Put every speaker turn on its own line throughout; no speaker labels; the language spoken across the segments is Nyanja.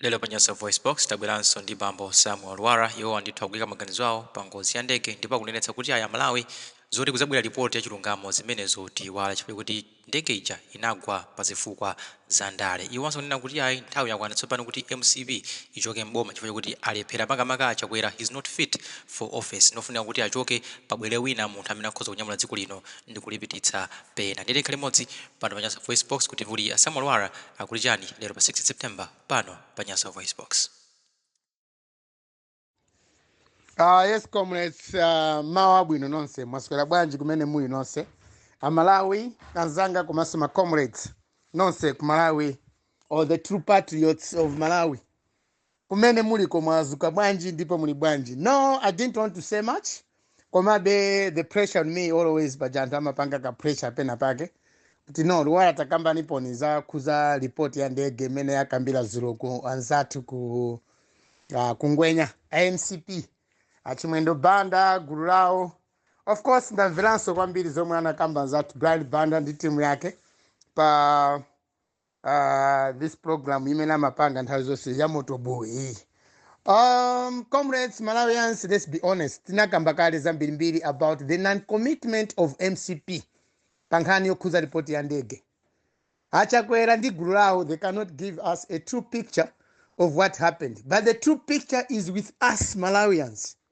Lero pa Nyasa VoiceBox, tabweranso ndi bambo Samuel Lwara. Iwowa ndithu akuika maganizo awo pa ngozi ya ndege ndipo akunenetsa kuti ayi a Malawi zoti kuzabwera ripoti ya chilungamo zimenezo tiiwale chifukwa chakuti ndege ija inagwa pa zifukwa za ndale. Iwonso akunena kuti ayi nthawi yakwana tsopano kuti mcp ichoke m'boma chifukwa chakuti alephera makamaka a Chakwera he's not fit for office. Ndofunika kuti achoke pabwere wina munthu amene akhoza kunyamula dziko lino ndikulipititsa Pena ndi pena. Tikhale limodzi pano pa Nyasa VoiceBox, kuti kodi a Samuel Lwara akuti chani lero pa 6 September pano pa Nyasa VoiceBox.
Ah, yes comrades, ah, mmawa wabwino nonse mwaswera bwanji kumene muli nonse amalawi anzanga komanso ma comrades nonse ku malawi or the true patriots of malawi kumene muliko mwadzuka bwanji ndipo muli bwanji no i didn't want to say much komabe the pressure on me always paja anthu amapanga ka pressure pena pake kuti no Lwara takambaniponi zokhuza report ya ndege imene yakambidwa dzulo ku anzathu ku uh, kungwenya a mcp achimwendo banda gulu lawo of course ndamveranso kwambiri zomwe anakamba anzathu brian banda ndi timu yake pa uh, this program imene amapanga nthawi zonse ya mtopola iyi um, comrades malawians let's be honest tinakamba kale zambirimbiri about the non-commitment of mcp pa nkhani yokhuza ripoti ya ndege achakwera ndi gulu lawo they cannot give us a true picture of what happened but the true picture is with us malawians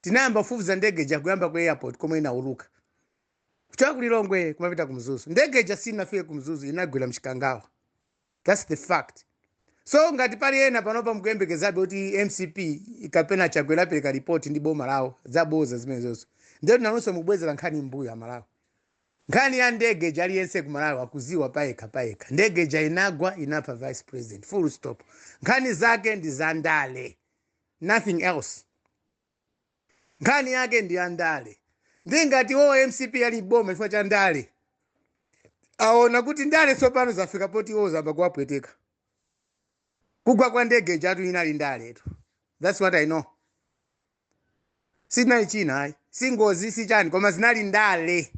Tinayamba kufufuza ndege ija kuyamba ku airport komwe inauluka. Kuchoka ku Lilongwe kumapita ku Mzuzu. Ndege ija sinafike ku Mzuzu inagwera mchikangawa. That's the fact. So ngati pali ena panopa mukuyembekezabe kuti mcp kapena Chakwera apereka report ndi boma lawo zaboza zimenezozo. Ndiye nanunso mukubwezera nkhani m'mbuyo Amalawi. Nkhani ya ndege ija aliyense ku Malawi akudziwa payekha payekha. Ndege ija inagwa inapha vice president. Full stop. Nkhani zake ndi zandale. nothing else nkhani yake ndi yandale ndi ngati iwo a mcp ali boma chifukwa cha ndale aona kuti ndale tsopano zafika poti iwo zayamba kuwapweteka kugwa kwa ndege jatu inali ndaletu thats what i know sinali china ayi si ngozi si chani koma zinali ndale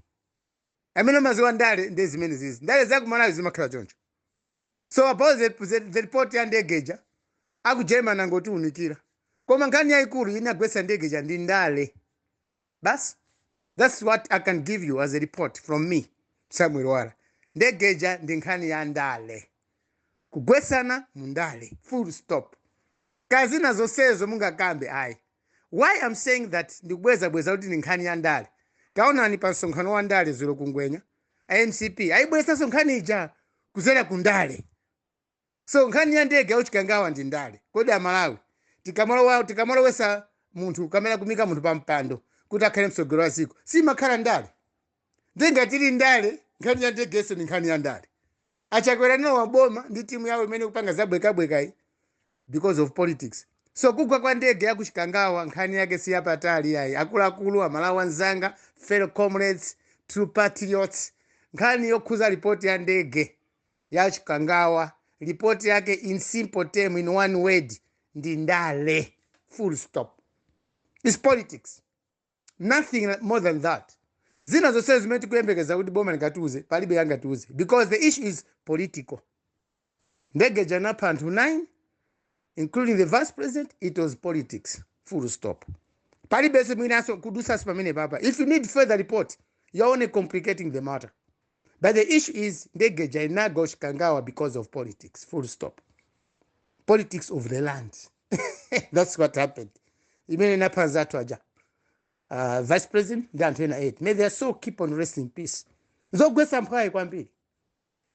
amene amadziwa ndale ndi zimenezizi ndale zakumalawi zimakhala choncho so about the, the, the report ya ndege ija aku german angotiunikira koma nkhani yayikulu inagwetsa ndege ija ndi ndale basi that's what i can give you as a report from me samuel lwara ndege ija ndi nkhani ya ndale kugwetsana mu ndale full stop nkhani zina zonsezo mungakambe ayi why i'm saying that ndikubwezabweza kuti ndi nkhani ya ndale taonani pa msonkhano wa ndale dzulo kungwenya a mcp ayibweresanso nkhani ija kudzera ku ndale so nkhani ya ndege ya ku chikangawa ndi ndale kodi amalawi tikamalowa tikamalowesa munthu kapena kumuika munthu pa mpando kuti akhale mtsogoleri wa dziko simakhala ndale nde ngati ili ndale nkhani ya ndegenso ndi nkhani ya ndale A Chakwera analowa boma ndi team yawo imene ikupanga za bwekabwekayi because of politics. So kugwa kwa ndege ya ku Chikangawa nkhani yake si yapatali ayi. Akuluakulu, a Malawi anzanga, fellow comrades, true patriots, nkhani yokhuza report ya ndege ya Chikangawa, report yake in simple term, in one word, ndi ndale. Full stop. It's politics. nothing more than that zina zonse zimene tikuyembekeza kuti boma lingatiuze palibe yangatiuze because the issue is political ndege ija inapha anthu 9 including the vice president it was politics full stop palibenso chinanso kudusanso pamenepapa if you need further report you're only complicating the matter but the issue is ndege ija inagwa ku chikangawa because of politics full stop politics of the land that's what happened imene inapha anzathu aja uh, vice president ndi anthu ena 8 may their soul keep on rest in peace zogwetsa mphwayi kwambiri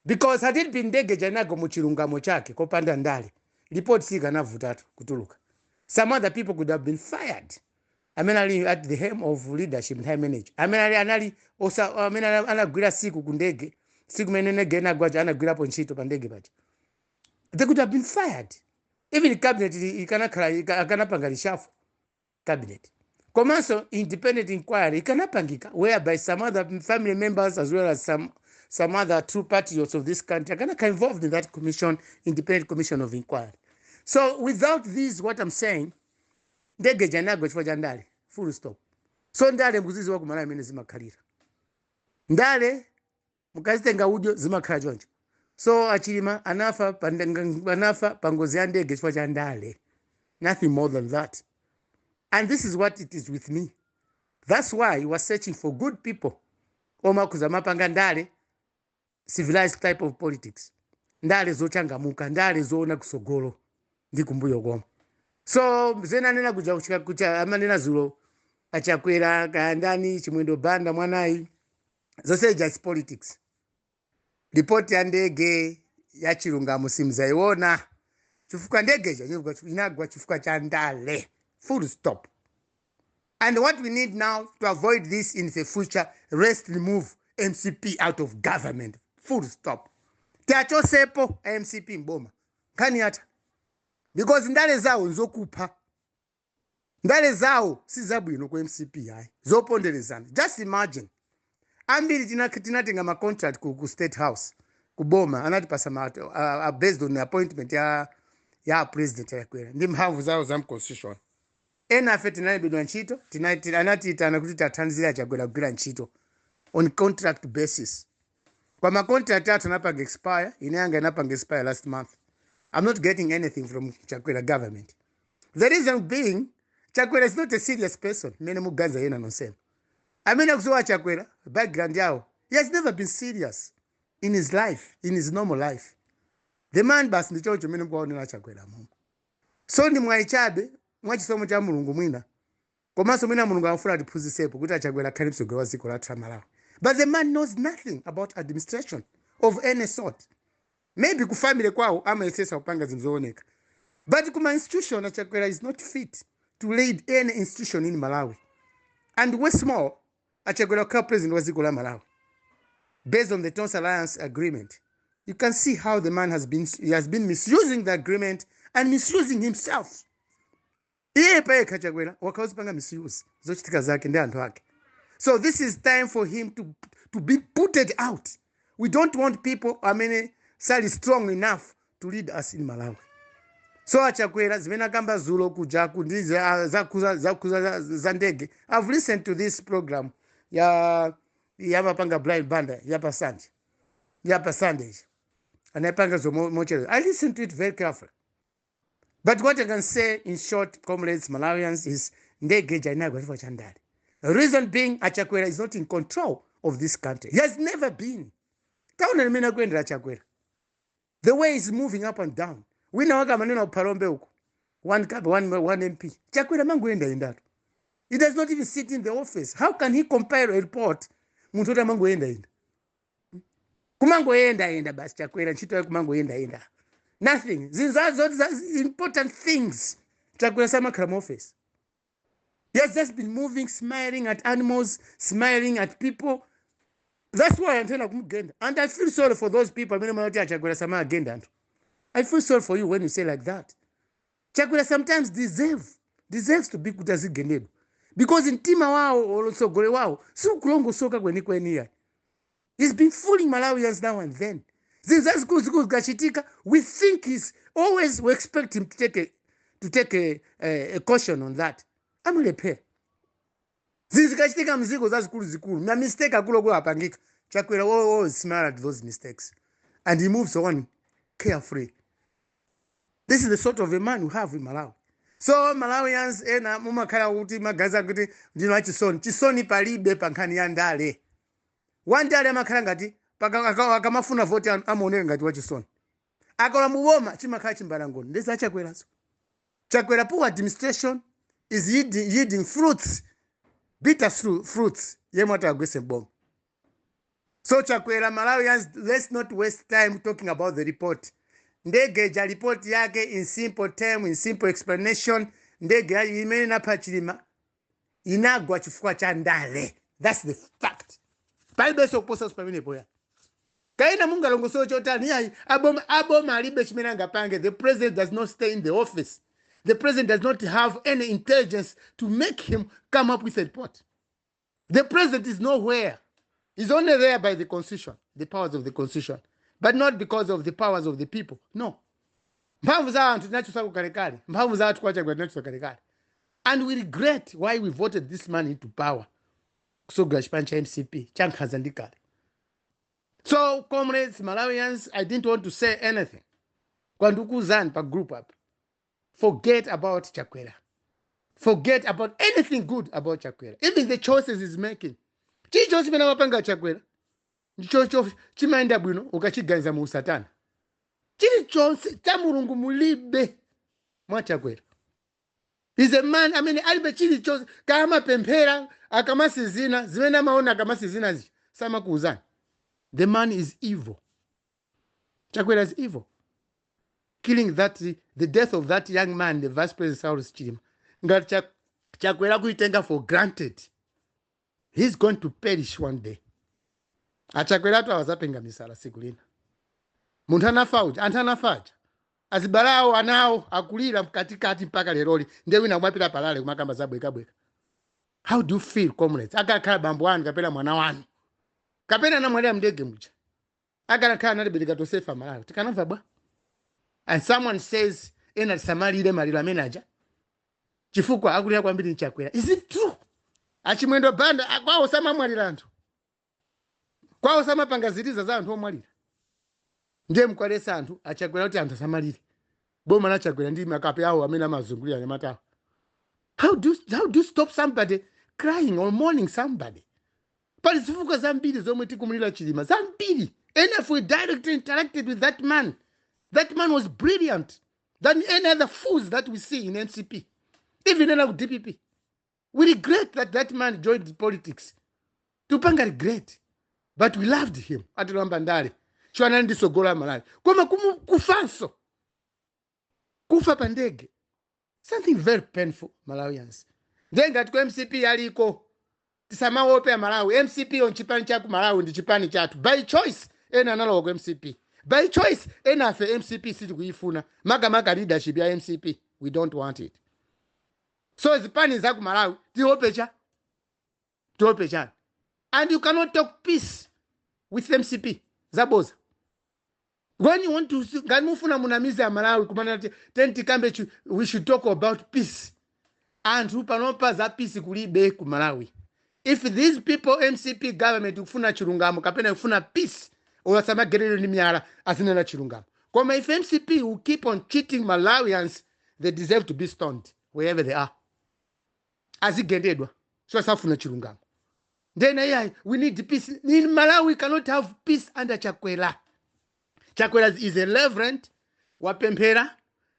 because had it been ndege ija inagwa mu chilungamo chake kopanda ndale report sikanavutatu kutuluka some other people could have been fired amene ali at the helm of leadership nthawi imene ija amene ali anali osa- amene ana- anagwira siku ku ndege siku imene ndege inagwa lija anagwirapo ntchito pa ndege paja they could have been fired even cabinet ili- ikanakhala ika- akanapanga reshuffle cabinet komanso independent inquiry ikanapangika whereby some other family members as well as some some other true patriots of this country akanakhala involved in that commission independent commission of inquiry so without this what i'm saying ndege ija inagwa chifukwa cha ndale full stop so ndale mukuziziwa kumalawi mmene zimakhalira ndale mukazitenga udyo zimakhala choncho so a chilima anafa pa ndanga- anafa pa ngozi ya ndege chifukwa cha ndale nothing more than that and this is what it is with me that's why we are searching for good people oma kuzamapanga ndale civilized type of politics ndale zochangamuka ndale zoona kusogolo ndi kumbuyo komanso zimene anena kuja kuchika- kucha amanena zulo a chakwera kaya ndani chimwendo banda mwanayi Zonse ija is politics. Report ya ndege ya chilungamo simzaiona chifukwa ndege ija inagwa- inagwa chifukwa cha ndale. Full stop. And what we need now to avoid this in the future, rest remove MCP out of government. Full stop. Tiachosepo a MCP mboma. Kani hata. Because ndale zawo nzokupha. ndale zawo sizabwino ku mcp ayi zoponderezana just imagine ambiri tina- tinatenga ma contract ku, ku state house ku boma anatipasa ma, a, a based on appointment ya ya president chakwera ndi mphamvu zawo za mconstitution enafe tinalembedwa ntchito tinati- anatiitana kuti tithandize a chakwera kugwira ntchito on contract basis kwa ma contract athu anapanga expire ine yanga inapanga expire last month i'm not getting anything from chakwera government the reason being chakwera is not a serious person mmene muganza yena nonsenu amene akuziwa chakwera background yake he has never been serious in his life in his normal life the man basi ndi choncho mmene mukuwaonera chakwera momwemo so ndi mwayi chabe mwachisomo cha mulungu mwina Komanso mwina Mulungu akufuna atiphunzitsepo kuti achakwera akhale mtsogoleri wa dziko lathu la Malawi but the man knows nothing about administration of any sort maybe ku family kwawo amayesetsa kupanga zinthu zowoneka but ku ma institution achakwera is not fit to lead any institution in Malawi and worse more achakwera kukhala president wa dziko la Malawi based on the Tonse Alliance agreement you can see how the man has been he has been misusing the agreement and misusing himself Iye payekha chakwera wakhala akuzipanga misuse zochitika zake ndi anthu ake so this is time for him to, to be putted out we don't want people amene sali strong enough to lead us in malawi so achakwera zimene akamba zulo kujaku ndi za- zakhuza zakhuza za- za ndege i've listened to this program ya amapanga brian banda ya pa sunday ya pa sunday anayipanga usiku mochedwa i listened to it very carefully but what i can say in short comrades malawians is ndege ija inagwa chifukwa cha ndale reason being achakwera is not in control of this country he has never been taonani mmene akuyendera achakwera the way he's moving up and down wina wake amanena kuphalombe uko one cup one, one mp chakwera amangoyendayendatu he does not even sit in the office how can he compile a report munthu woti amangoyendayenda kumangoyendayenda basi chakwera ntchito yake kumangoyendayenda nothing zinthu za- zoti za important things chakwera samakhala mu office he has just been moving smiling at animals smiling at people that's why anthu ena akumugenda and i feel sorry for those people amene mumati achakwera samagenda anthu i feel sorry for you when you say like that Chakwera sometimes deserve deserves to be kuti azigendedwa because mtima wawo or utsogoleri wawo siukulongosoka kwenikweni ya he's been fooling malawians now and then zinthu zazikuluzikulu zikachitika we think he's always we expect him to take a, to take a, a, a caution on that amulephera zinthu zikachitika mziko zazikuluzikulu ma mistake akuluakulu apangika chakwera will always smile at those mistakes and he moves on carefree this is the sort of a man we have in malawi so malawians ena mumakhala kuti magazi akuti ndinu achisoni chisoni palibe pa nkhani ya ndale wandale amakhala ngati paka- aka- akamafuna voti anu amaoneka ngati wachisoni akalowa mu boma chimakhala chimbalangondo ndi za chakwerazo chakwera poor administration is yielding fruits bitter fruits yemwe atawagwese mboma so chakwera malawians let's not waste time talking about the report ndege ja report yake in simple term in simple explanation ndege imene inapha chilima inagwa chifukwa cha ndale thats the fact palibenso kuposanso pamenepo ya kaya mungalongosole chotani yayi aboma aboma alibe chimene angapange the president does not stay in the office the president does not have any intelligence to make him come up with a report the president is nowhere he's only there by the constitution the powers of the constitution but not because of the powers of the people no mphamvu za anthu tinachosa kukalekale mphamvu za anthu kwa chakwera tinachosa kalekale And we regret why we voted this man into power kusogolera chipani cha mcp chankhanza ndi kale so comrades malawians i didn't want to say anything kwandikuzani pa group apa forget about chakwera forget about anything good about chakwera even the choices he's making chilichonse chimene amapanga chakwera ndichocho chimayenda bwino ukachiganiza mu usatana chilichonse cha mulungu mulibe mwa chakwera he's a man amene alibe chilichonse kaya amapemphera akamatsinzina zimene amaona akamatsinzina zija samakuuzani the man is evil chakwera is evil killing that the death of that young man the vice president saulos chilima ngati Cha- chakwera kuitenga for granted he's going to perish one day achakweratu awa azapenga misala siku lina munthu anafa uja anthu anafa aja azibale awo ana awo akulira mkatikati mpaka leroli ndiye wina kumapita pa rally kumakamba zabwekabweka how do you feel comrades akakhala bambo wanu kapena mwana wanu kapena anamwalira mndege muja akanakhala ana obereka tonsefe amalawi tikanamva bwa and someone says ena asamalire maliro amenewa aja chifukwa akulira kwambiri ndi chakwera is it true achimwendo banda kwawo samamwalira anthu kwawo samapanga ziliza za anthu omwalira ndiye mkuwaletsa anthu achakwera kuti anthu asamalire boma la chakwera ndi makape awo amene amazungulira anyamatawo how do you stop somebody crying or mourning somebody pali zifukwa zambiri zomwe tikumulira chilima zambiri and if we directly interacted with that man that man was brilliant than any other fools that we see in mcp even ena ku dpp we regret that that man joined politics tupanga regret but we loved him atilowa m'ndale chifukwa anali ndi tsogolo la malawi koma kufanso kufa pa ndege something very painful malawians ndiye ngati ku mcp yaliko tisamaope amalawi mcp ndi chipani cha ku malawi ndi chipani chathu by choice ena analowa ku mcp by choice ena afe mcp sitikuyifuna makamaka leadership ya mcp we don't want it so zipani za ku malawi tiope cha Tiope chani? And you cannot talk peace with mcp. Zaboza. When you want to, ngati mufuna munamize a Malawi kumana ati, then tikambe chu- we should talk about peace. Anthu panopa za peace kulibe ku Malawi. If these people mcp government ikufuna chilungamo kapena ikufuna peace, olo asamagendedwe ni miyala azinena chilungamo. Koma if mcp will keep on cheating Malawians, they deserve to be stoned wherever they are. azigendedwa so asafuna chilungamo ndiye ena iyayi we need peace in malawi cannot have peace under chakwera chakwera is a reverend wapemphera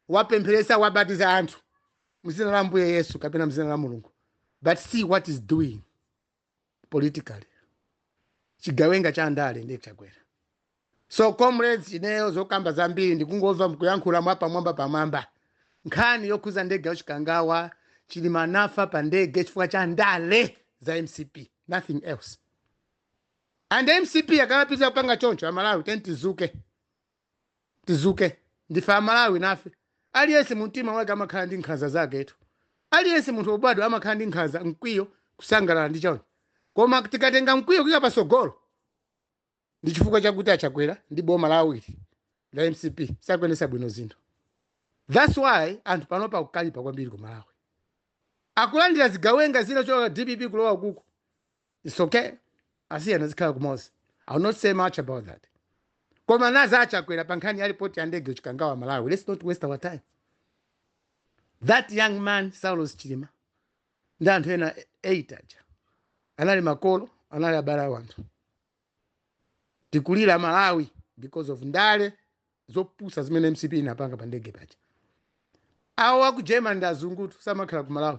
wapempheresa wabatiza anthu mzina la ambuye yesu kapena mzina la mulungu but see what he's doing politically chigawenga cha ndale ndi chakwera so comrades ineyo zokamba zambiri ndikungomva mkuyankhula mwa pamwamba pamwamba nkhani yokhuza ndege ya chikangawa chilima anafa pa ndege chifukwa cha ndale za mcp nothing else and mcp akamapitiriza kupanga choncho amalawi tiyeni tizuke tizuke ndife amalawi nafe aliyense mumtima wake amakhala ndi nkhanza zaketu aliyense munthu obadwa amakhala ndi nkhanza mkwiyo kusangalala ndi chani koma tikatenga mkwiyo kuika pasogolo ndi chifukwa chakuti achakwera ndi boma lawoli la mcp sakuyendesa bwino zinthu thats why anthu panopa akukalipa kwambiri ku malawi akulandira zigawenga zinachoka dpp kulowa kuku its okay asiyeni azikhala kumozi ill not say much about that koma nawo achakwera pa nkhani ya ripoti ya ndege chikangawa malawians let's not waste our time that young man saulos chilima ndi anthu ena 8 aja anali makolo anali abale a wanthu tikulira malawi because of ndale zopusa zimene mcp inapanga pa ndege paja awo aku german ndi azungutu samakhala ku malawi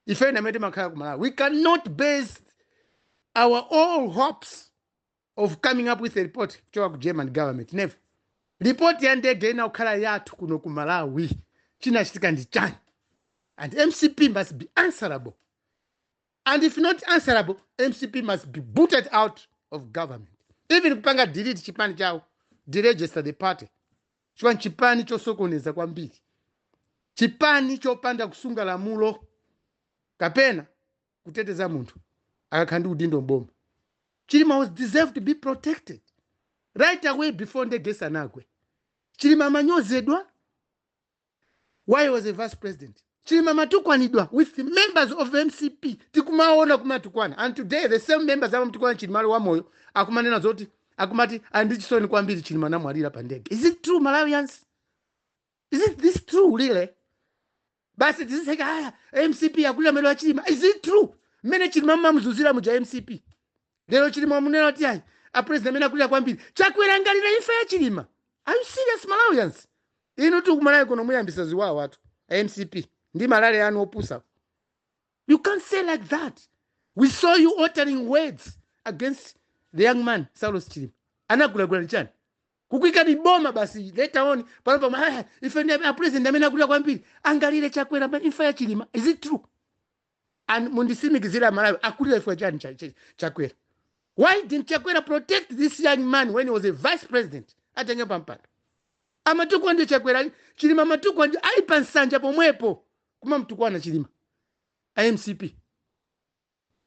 ife ndi amene timakhala ku malawi we cannot base our all hopes of coming up with a report kuchoka ku german government never report ya ndege inakakhala yathu kuno ku malawi chinachitika ndi chani and mcp must be answerable and if not answerable mcp must be booted out of government even kupanga delete chipani chawo deregister the party chifukwa nchipani chosokoneza kwambiri chipani chopanda kusunga lamulo kapena kuteteza munthu akakhala ndi udindo mboma chilima was deserved to be protected right away before ndege isanagwe chilima amanyozedwa while he was a vice president chilima amatukwanidwa with the members of mcp tikumaona kumatukwana and today the same members amamutukwana chilima ali wamoyo akumanena zoti akumati ali ndi chisoni kwambiri chilima anamwalira pa ndege is it true malawians is it this true really basi tiziseka aya mcp akulira maliro a chilima is it true mmene chilima amamuzunzira muja mcp Lero chilima mukunena kuti ayi a president amene akulira kwambiri chakwera angalire imfa ya chilima are you serious malawians inu tu kumalawi kuno muyambisa ziwawa atu a mcp ndi malale anu opusa you can't say like that we saw you uttering words against the young man saulos chilima anagulagula nchani kukuikani boma basi later on pano pama "Ah, ife ndi a president amene akulira kwambiri angalire chakwera imfa ya chilima is it true and mundisimikizile amalawi akulira chifukwa chani cha- cha- chakwera why didn't chakwera protect this young man when he was a vice president atenge pampando amatukwanidwa chakwera chilima amatukwanidwa ali pa nsanja pomwepo kumamtukwana chilima a mcp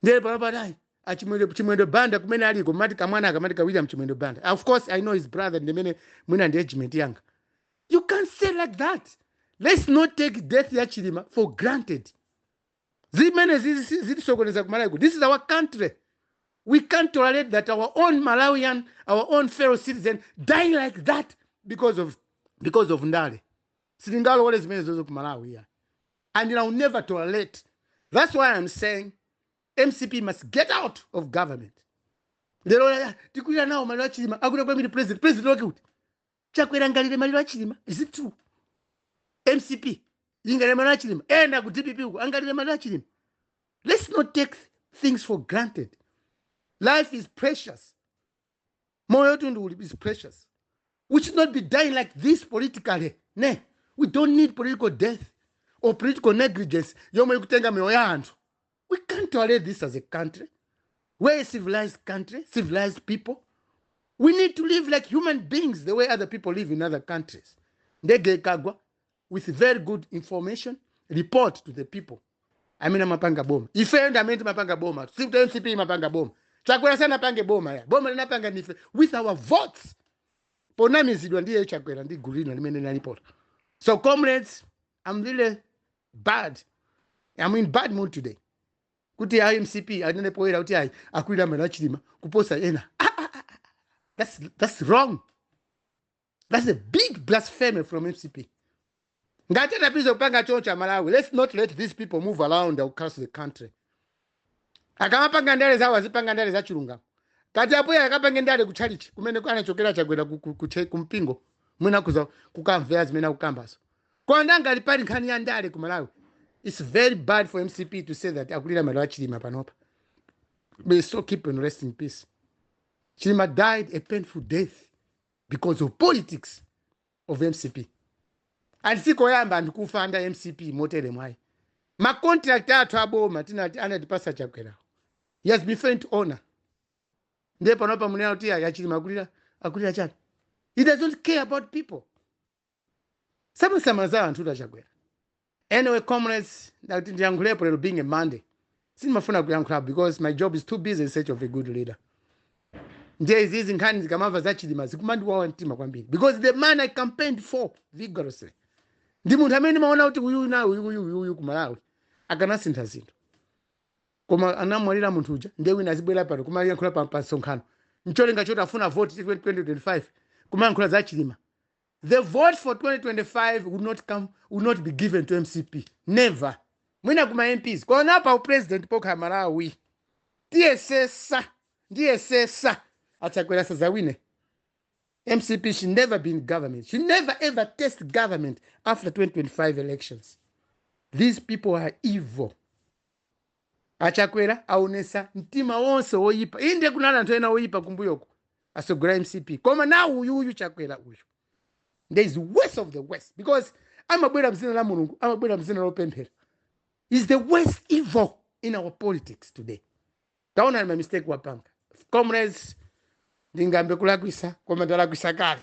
nde lero panopa achimwendo chimwendo banda kumene aliko mati kamwana akamati ka william chimwendo banda of course i know his brother ndimene mwina ndi age mate yanga you can't say like that let's not take death ya chilima for granted zimenezi zi- zitisokoneza ku malawi ku this is our country we can't tolerate that our own malawian our own fellow citizen dying like that because of because of ndale sitingalowole zimenezozo ku malawi ayi and i'll never tolerate that's why i'm saying mcp must get out of government lero laya tikulira nawo maliro a chilima akuti kwambiri president president wake kuti Chakwera angalire maliro a Chilima? Is it true? mcp ingalire maliro a Chilima? Ena ku dpp uko angalire maliro a Chilima? Let's not take things for granted. Life is precious. Moyo tundu uli- is precious. We should not be dying like this politically. Ne, we don't need political death or political negligence yomwe ikutenga miyoyo ya anthu. We can't tolerate this as a country. We're a civilized country, civilized people. We need to live like human beings the way other people live in other countries. Ndege ikagwa with very good information, report to the people. Amene amapanga boma. Ife ndi amene timapanga boma. Si kuti MCP imapanga boma. Chakwera sanapange boma ayi. Boma tinapanga ndife with our votes. Ponamizidwa ndiye Chakwera ndi gulu lina limene linalipota. So comrades, I'm really bad. I'm in bad mood today. Kuti ya MCP anene poera kuti ayi akwira mera chilima kuposa ena. Ah, ah, ah, ah. That's that's wrong. That's a big blasphemy from MCP. Ngati anapita kupanga choo cha Malawi. Let's not let these people move around across the country. akamapanga ndale zawo azipanga ndale za chilungamo ngati apo ayi akapange ndale ku chalichi kumene anachokera chakwera ku- ku- ku che- ku mpingo mwina kuja akamvera zimene akukambazo koma ngati pali nkhani ya ndale ku malawi its very bad for mcp to say that akulira maliro a chilima panopa may soul keep and rest in peace chilima died a painful death because of politics of mcp and sikoyamba anthu kufa under mcp motere mwayi ma contract athu aboma tinati anatipasa chakwerawo he has been failed to honor ndiye panopa munena kuti ayi a chilima akulira akulira chani he does not care about people samasamala za anthu tachakwera Anyway comrades ndati ndiyankhulepo lero being a Monday sindimafuna kuyankhula because my job is too busy in search of a good leader ndiye izizi nkhani ndikamamva za chilima zikumandiwawa mtima kwambiri because the man i campaigned for vigorously ndi munthu amene ndimaona kuti uyuyu uyuyu uyuyu ku malawi akanasintha zinthu koma anamwalira munthu uja ndiye wina azibwera pano kumayankhula pa pa msonkhano ncholinga choti afuna vote 2025 kumayankhula za chilima The vote for 2025 will not come, will not be given to mcp never mwina ku ma mps koma pa upresident pokha malawi tiyesesa ndiyesesa achakwera sazawine mcp she never be in government she never ever test government after 2025 elections these people are evil A Chakwera awonesa mtima wonse woyipa inde kunali anthu ena woyipa kumbuyoku atsogolera mcp koma now uyu uyu Chakwera uyu nde is worst of the worst because amabwera mzina la Mulungu amabwera mzina lopemphera is the worst evil in our politics today taonani ma mistake wapanga comrades ndingambe kulakwisa koma ndalakwisa kale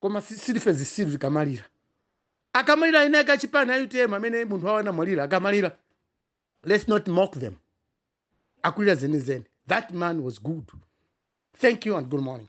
koma si- silife zisiru zikamalira akamalira ena ake achipani a utm amene munthu wawo anamwalira akamalira let's not mock them akulira zenizeni that man was good thank you and good morning